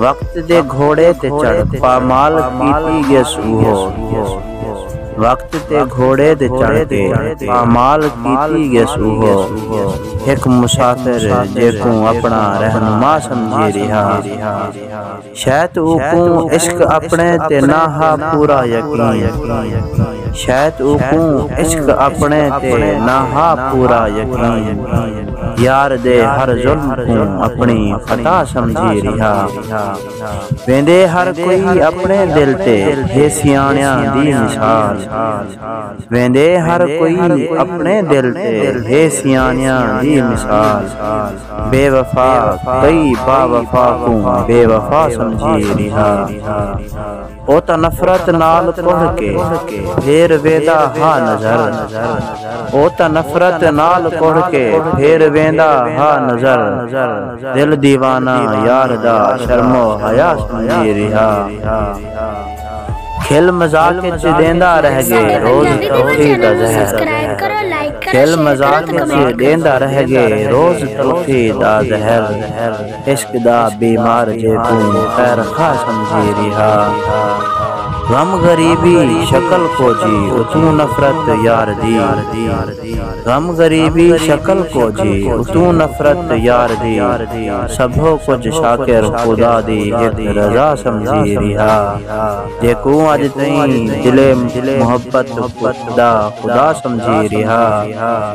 وقت دے گھوڑے تے چڑھ پامال کیتی گیس اوہو وقت تے گھوڑے تے چڑھ کے پامال کیتی گیس اوہو ہک مسافر جیکوں اپنا رہنما سمجھی ریہا شاید اوکوں عشق اپنے تے نہ ہا پورا یقین شاید اوکوں عشق اپنے تے نہ ہا پورا یقین یار دے ہر ظلم کوں اپݨی خطا سمجھی ریہا ویندے ہر کوئی اپݨے دل تے ہے سیاݨیاں دی مثال ویندے ہر کوئی اپݨے دل تے ہے سیاݨیاں دی مثال بے وفا کئی باوفا کوں بے وفا سمجھی ریہا۔ او تاں نفرت نال کڑھ کے پھیر ویندا ہا نظر او تاں نفرت نال کڑھ کے پھیر ویندا ہا نظر دل دیوانہ یار دا شرم و حیا سمجھی ریہا کھل مذاق اچ ڈیندا رہ گے روز تلخی دا زہر کھل مذاق اچ ڈیندا رہ گے روز تلخی دا زہر عشق دا بیمار جے کوں خیر خواہ سمجھی ریہا غم غریبی شکل کوجھی اتوں نفرت یار دی غم غریبی شکل کوجھی اتوں نفرت یار دی سبھو کجھ شاکر خدا دی ہک رضا سمجھی ریہا جے کوں اج تئیں دلے محبت دا خدا سمجھی ریہا۔